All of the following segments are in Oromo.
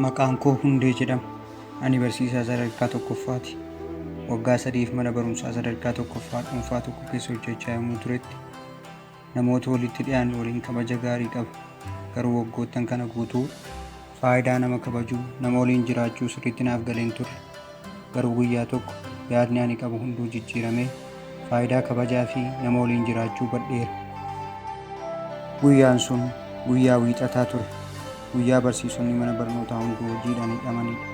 Maqaan koo Hundee jedhama. Ani barsiisaa sadarkaa tokkoffaati. Waggaa sadiif mana barumsaa sadarkaa tokkoffaa dhuunfaa tokko keessa hojjechaa yommuu turetti Namoota walitti dhiyaannu waliin kabaja gaarii qaba. Garuu waggoottan kana guutuu faayidaa nama kabajuu, nama waliin jiraachuu sirriitti naaf galee hin turre. Garuu guyyaa tokko yaadni ani qabu hunduu jijjiiramee faayidaa kabajaa fi nama waliin jiraachuu hubadheera. Guyyaan sun guyyaa Wiixataa ture. Guyyaa barsiisonni mana barnootaa hunduu hojiidhaan hidhamanidha.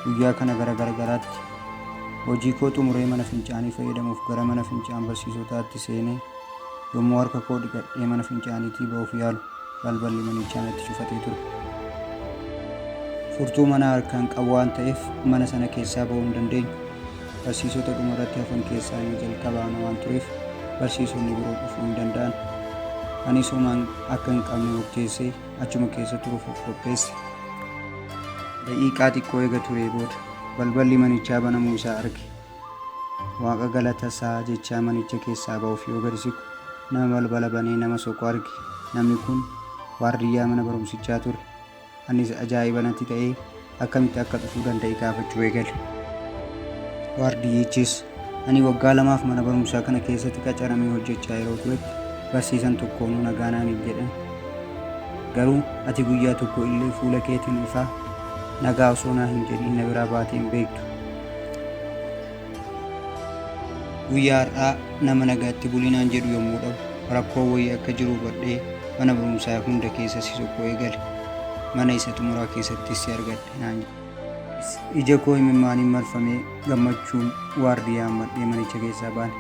Guyyaa kana gara gargaraatti hojii koo xumuree mana fincaanii fayyadamuuf gara mana fincaan barsiisotaatti seenee Yommuu harka koo dhiqadhee mana fincaaniitii ba'uuf yaalu balballi manichaa natti cufatee ture. Furtuu manaa harkaan qabu waan ta'eef mana sana keessaa ba'uu hin dandeenye. Barsiisota dhuma irratti hafan keessaa inni jalqabaa ana waan tureef barsiisonni biroo dhufuu hin danda'an. Anis homaan akka hin qabne murteessee achuma keessa turuuf of qopheesse. Daqiiqaa xiqqoo eega turee booda balballi manichaa banamuu isaa arge. Waaqa galata isaa jechaa manicha keessaa ba'uuf yoo gadi siqu, nama balbala banee nama soqu arge. Namni kun waardiyyaa mana barumsichaa ture. Anis ajaa'iba natti ta'ee akkamitti akka dhufuu danda'e gaafachuu eegale. Waardiyyichis, Ani waggaa lamaaf mana barumsaa kana keessatti qacaramee hojjechaa yeroo turetti barsiisan tokkoonuu nagaa naan hin jedhan. Garuu ati guyyaa tokko illee fuula keetiin ifaa nagaa osoo naa hin jedhiin na biraa baatee hin beektu. Guyyaa har'aa nama nagaatti bulii naan jedhu yommuu dhabu rakkoo wayii akka jiru hubadhee mana barumsaa hunda keessa si sokkoo eegale. Mana isa xumuraa keessattis si argadhe naan jedhe. Ija koo imimmaaniin marfamee gammachuun waardiyyaa hammadhee manicha keessaa baane.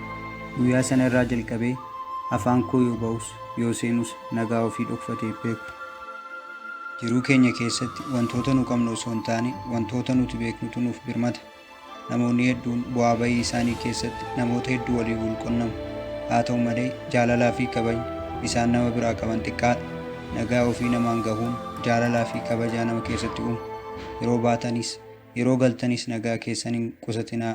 Guyyaa sana irraa jalqabee afaan koo yoo ba'us yoo seenus nagaa ofii dhokfatee hin beeku. Jiruu keenya keessatti wantoota nu qabnu osoo hin taane wantoota nuti beeknutu nuuf birmata. Namoonni hedduun bu'aa ba'ii isaanii keessatti namoota hedduu waliin wal qunnamu. Haa ta'u malee, jaalalaa fi kabajni isaan nama biraa qaban xiqqaadha. Nagaa ofii namaan gahuun jaalalaa fi kabajaa nama keessatti uuma. Yeroo baatanis, yeroo galtanis nagaa keessan hin qusatinaa.